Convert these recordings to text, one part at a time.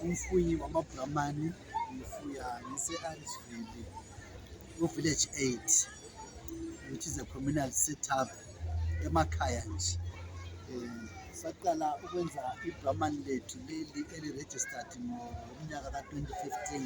umfuyi wamabhulamani ngifuya ngise-arisville ku-village eight which is a communal setup emakhaya nje um saqala ukwenza ibhulamani lethu leli eli-registered ngomnyaka ka-twenty fifteen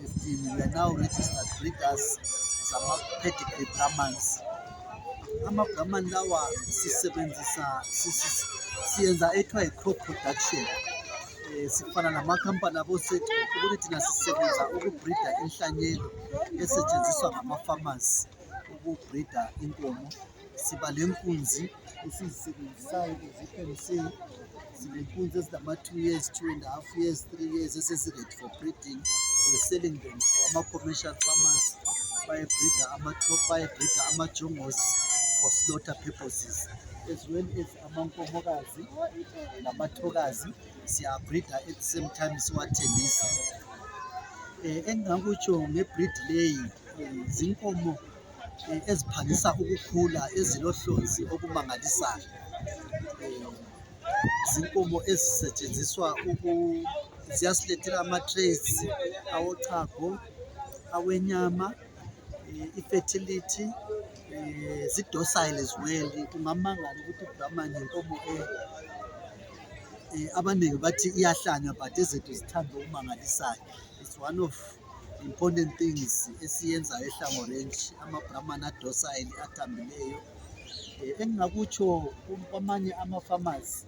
15 we are now registered breeders zama-pedigree brahmans ama-brahman lawa sisebenzisa siyenza ethiwa yi-crop production um sifana namakhampani abosethu ukuthi thina sisebenza ukubhrida inhlanyelo esetshenziswa ngama-farmers ukubhrida inkomo siba le nkunzi esizisebenzisayo ukuze iphemse sibe nkunzi ezinama-two years two and a half years three years esesi-ready for breeding we're selling them for ama-commercial farmers bayebreeda ama-top bayebreeda ama-jongos for slaughter purposes as well as amankomokazi namathokazi siyabreeda at the same time siwathengisa um engingakutsho ngebreed leyi um zinkomo eh, eziphangisa ukukhula ezilohlonzi okumangalisayo eh, zinkomo ezisetshenziswa ziyasilethela ama-traits awochago awenyama eh, i-fertility zidosile as well kungamangala ukuthi ubrahman yinkomo abaningi bathi iyahlanywa but ezethu zithanda okumangalisayo it's one of important things esiyenzayo ehlango range ama-brahman adosayile athambileyo um eh, engingakutsho kwamanye ama-farmers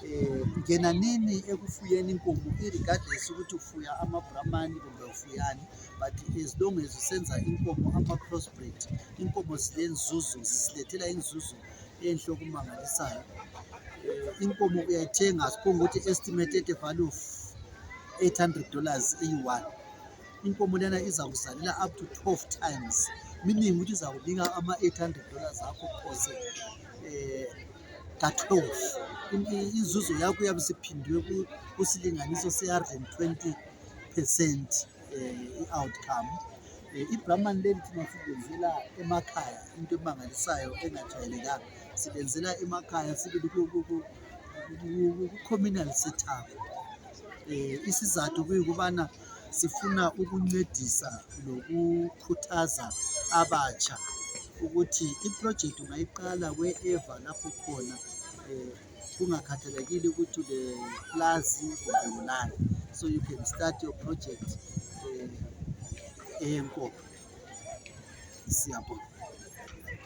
um eh, ngena nini ekufuyeni inkomo i-regardless ukuthi ufuya ama-brahman kumbe ufuyani but as long as usenza inkomo ama-crossbreed inkomo silenzuzo sisilethela inzuzo enhle okumangalisayo um inkomo uyayithenga siphonga ukuthi estimated value 800 dollars eyi-one inkomo lena iza kuzalela up to 12 times meaning ukuthi iza kunika ama-800 dollars akho phose eh, ka-12 inzuzo yakho uyabe siphindiwe kusilinganiso se-120 percent eh, i-outcome eh, ibrahman leli thina silenzela emakhaya into emangalisayo engajwayelekanga silenzela emakhaya sibili ku-communal setup eh isizathu kuyikubana sifuna ukuncedisa nokukhuthaza abatsha ukuthi iproject ungayiqala wherever lapho khona eh kungakhathalekile ukuthi le plus kumbe ulani so you can start your project eh eyenkoko siyabonga